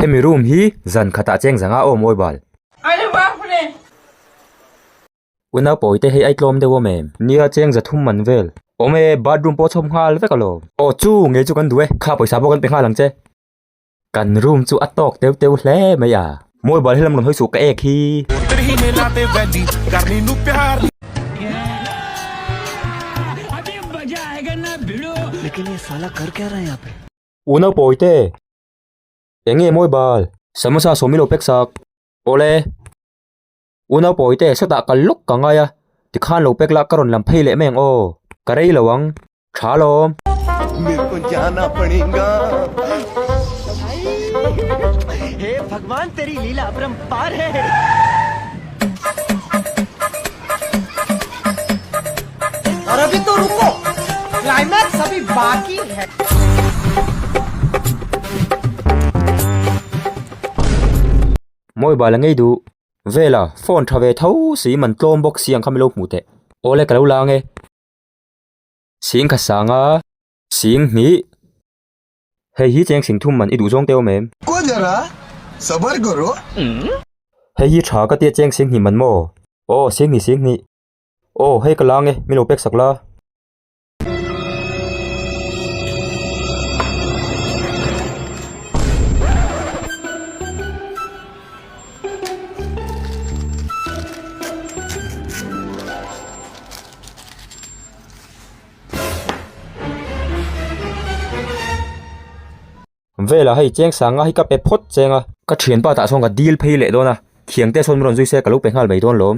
Hemi room hi zan khatah cheng zang a awm awi bal. Unau pawi te hi ai tlawm deuh awm em? Nia cheng za thum man vel. Awm e, bathroom pawh a chhawp nghal vek alawm. Aw chu, ngei chu kan duh e. Kha pawisa pawh kan pe nghal ang che. Kan room chu a tawk teu teu hle mai a. Mobile hi lam rawn hawi suh ka ek hi. U Naupawi te, eng nge mobile? Samosa sawmilo pek sak. Awle. U Naupawite, sawtah kal lawk ka ngai a, tikhan lo pek lah ka rawn lam phei leh meng aw, ka rei lo ang, tha lawm. Mawibal a ngei duh. Vela, phone tha ve tho si, man tlawm bawk si ang kha milo hmu teh. Awle ka lo la nge. Sing kha sang a. Sing hnih. Hei hi cheng sing thum man i duh zawng teuh em. Ko jara, sabar karo. Hei hi tha ka tia cheng sing hnih man maw. Aw, sing hnih, sing hnih. Aw, hei ka la nge, milo pek sak la. Vela hei cheng sanga hi ka pe phawt cheng a. Ka thianpa tah sawn ka dil phei leh dawn a, thiangte sawn min rawn zui se ka lo pe nghal mai dawn lawm.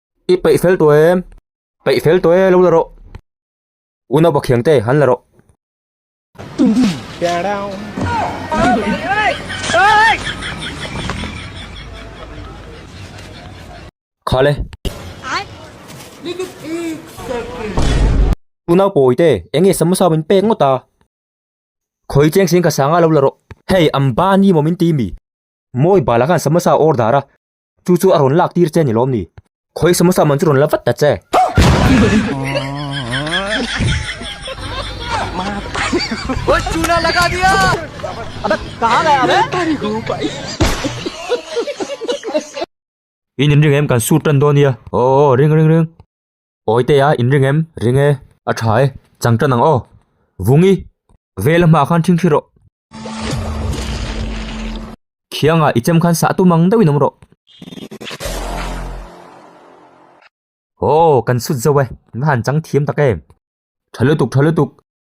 I peih fel tawh em. Peih fel tawh e, lo la rawh. U Naupakh Thiang te, han la rawh. Kha le. U Naupawi te, eng nge samosa min pek ngawt a. Khawi cheng sin kha sanga lo la rawh. Hei, an ban i maw min ti mi? Mawi bala khan samosa order a. Chu chu a rawn lak tir che ni lawm ni? Khawi samosa man chu rawn la vat ta che. In inring em kan sur tan dawn nia. Aww ring ring ring. Awi te a in ring em? Ring e. A tha e. Chang tan ang aw. Vung i. Vela hma khan thing thi rawh. Khianga i chem khan sah tum ang deuhin awm rawh. Aw, kan sut zo e. Nga han chang thiam tak em. Tha lutuk, tha lutuk.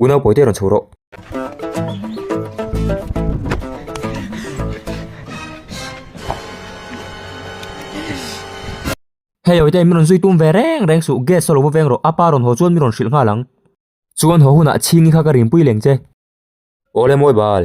Unau pawi te rawn chho rawh. Hei awite min rawn zui tum ve reng reng suh gas a lo va veng rawh apa rawn haw chuan min rawn hrilh nghal ang. Chuan haw hunah chhingi kha ka rinpui leng che. Awle mawi bal.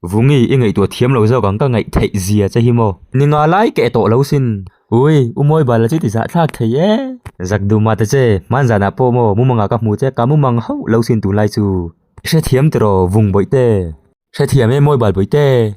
Vungi, i ngaihtuah thiam lo zawk ang ka ngaih theih zia che hi maw? Ni nga lai keh tawh lo sin. Ui, u Mawibala chu ti zahthlak thei e. Zak duh mah ta che, hman zanah pawh maw mumanga ka hmu che ka mumang hauh lo sin tun lai chu. Hrethiam tiraw, Vung bawihte? Hrethiam e Mawibal bawihte.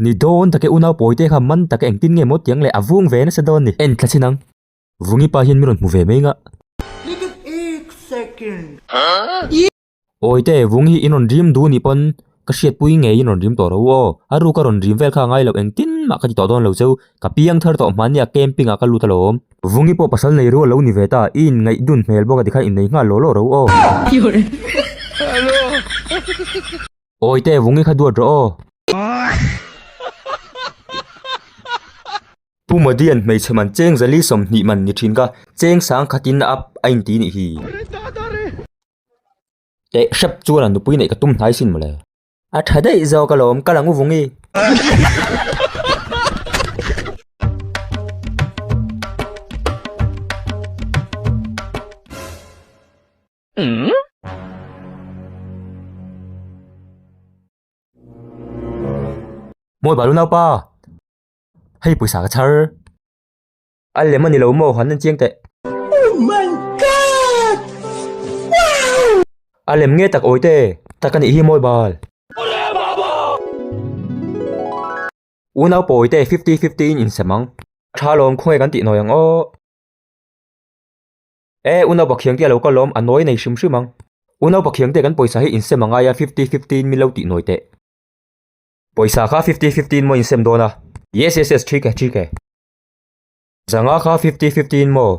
Ni dawn tak e, unau pawi te kha man tak e, engtin nge maw tiang le, a vung ve nasa dawn ni. En thla chin ang. Vungipa hian min rawn hmu ve mai ngah. Awite, vung hi in rawn rim duh nih pawn ka hriatpui ngei in rawn rim tawh ro u aw. A ruka rawn rim vel kha a ngai lo, engtin mah ka ti tawh dawn lo cheu. Ka piang thar tawh hmanh nia camping ah ka lut alawm. Vungi pawh pasal nei ru alo ni ve ta, i in ngaih dun hmel bawk a tikhan in nei nghal law law ro u aw. Awi te vung i kha duat rawh aw. Pu Madian hmeichhe man cheng zali sawmhnih man ni thin ka, cheng sang khat in a a in ti nih hi. Teh hrep chuan a nupui neih ka tum hnai sin mawle. A tha daih zawk alawm, ka lang u vung i. Mawi bal u naupa, hei pawisa ka chhar. A lem ani lo maw, han en chiang teh. Oh my God! Wow! A lem nge tak awite, tak anih hi mawi bal. Awle baba! U naupa awite fifty fifty in insem ang. Tha lawm khawnge kan tih nawi ang aw. E, u naupa Khiangtia'n lo kal lawm, a nawi nei hrim hrim ang. U naupa Khiangtia'n kan pawisa hi insem a ngai a, fifty fifty in min lo tih nawi teh. Pawisa kha fifty fifty in maw insem dawn a? Yes yes yes, thik e, thik e. Zanga kha fifty fifty in maw?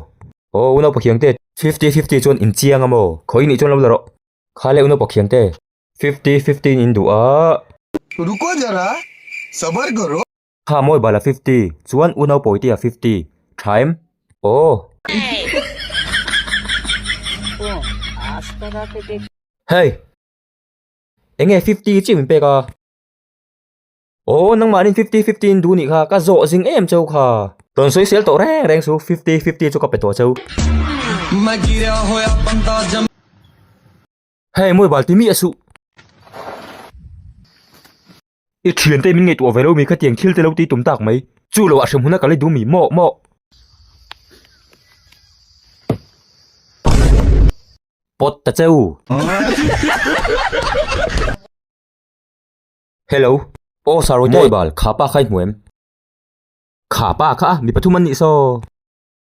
Aw, u naupa Khiangte, fifty fifty chuan inchiang a maw? Khawi nih chuan lo la rawh. Kha le u naupa Khiangte. Fifty fifty in induh a. Ruko jara, sabar karo. Kha mawi bala fifty, chuan u nau pawitia fifty, thaim. Aww. Hey! Enge fifty hi chiu min pek a? Aww nangmahnin fifty fifty in duh nih kha ka zawh zing em chau kha. Rawn sawi sel tawh reng reng chu fifty fifty chu ka pe tawh chau. Hei mawi bal timi a suh. I thian te min ngei tuah velo mi kha tiang thil te lo ti tum tak mai. Chu lo a hrem huna ka la dum i mawk mawk. Pot ta cheu. Hello. Aw Saroy te. Mawi bal, kha pa kha i hmu em? Kha pa kha a, mi pathum an nih saw.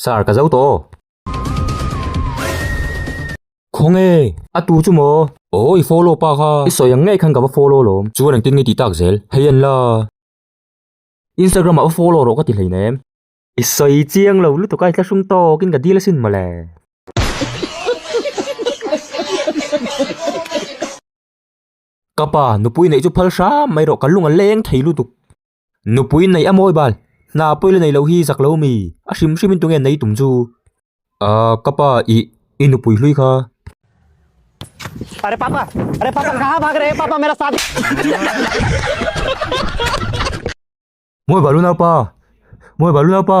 Sir, ka zo tawh. Khawng e! A tu chu maw? Aw, i follow pâk a. I sawi ang ngei khan ka va follow lawm. Chuan engtin nge tih tâk zel? Hei an la. Instagram-ah va follow rawh ka ti hlein em? I sawi chiang lo lutuk a, i tla hrum tawkin ka dil asin mawle. Ka pa, nupui neih chu phal hram mai rawh, ka lung a leng thei lutuk. Nupui neih a mawi bal. Hna pawile neih loh hi zak lo mi? A hrim hrimin tunge nei tum chu? Aaa ka pa i i nupui hlui kha. Are papa are papa kaha bhag rahe papa mera shadi Mawi bal u naupa mawi bal u naupa.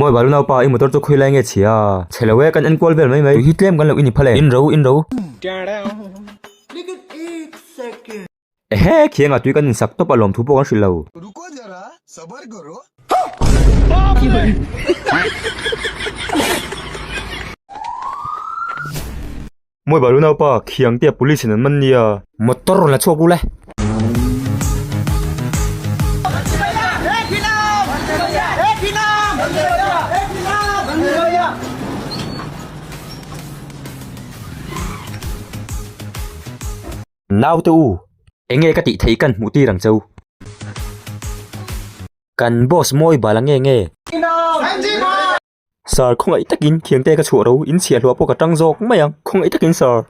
Maw i balu naupa, i motor chu khawi lai nge chhia. Chhe lo e, kan enkual vel mai mai. Tui hi tlem kan lo i ni phal e. In ro, in ro. Ehe, khianga tui kan insak tawp a, lawm thu pawh kan hrilh lo. Mawi balu naupa khiang te police in an man nia. Motor rawn la chhuak ru le. Naute u, enge ka tih theih kan hmuh tir ang chau. Kan boss mawi bala nge nge. Sir, khawngaih takin thiangte ka chhuah ro, in chhiah hluah pawh ka ṭang zawk mai a, khawngaih takin sir.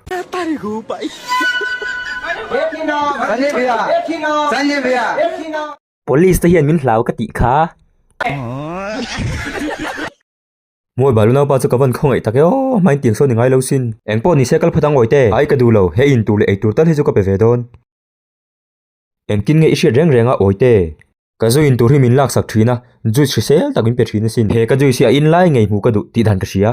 Police te hian min hlau ka tih kha. Mawi bal u naupa chu ka van khawngaih tak e aw, hmain tiang sawn i ngai lo sin. Eng pawh nise kal phat ang awite, ai ka duh lo, he in tur leh ei tur tal hi chu ka pe ve dawn. Engtin nge i hriat reng reng a Awite? Ka zui in tur hi min laksak thin a, juice hrisel tak min pe thin asin. He ka juice hi a in lai ngei hmuh ka duh tih dan ka hria.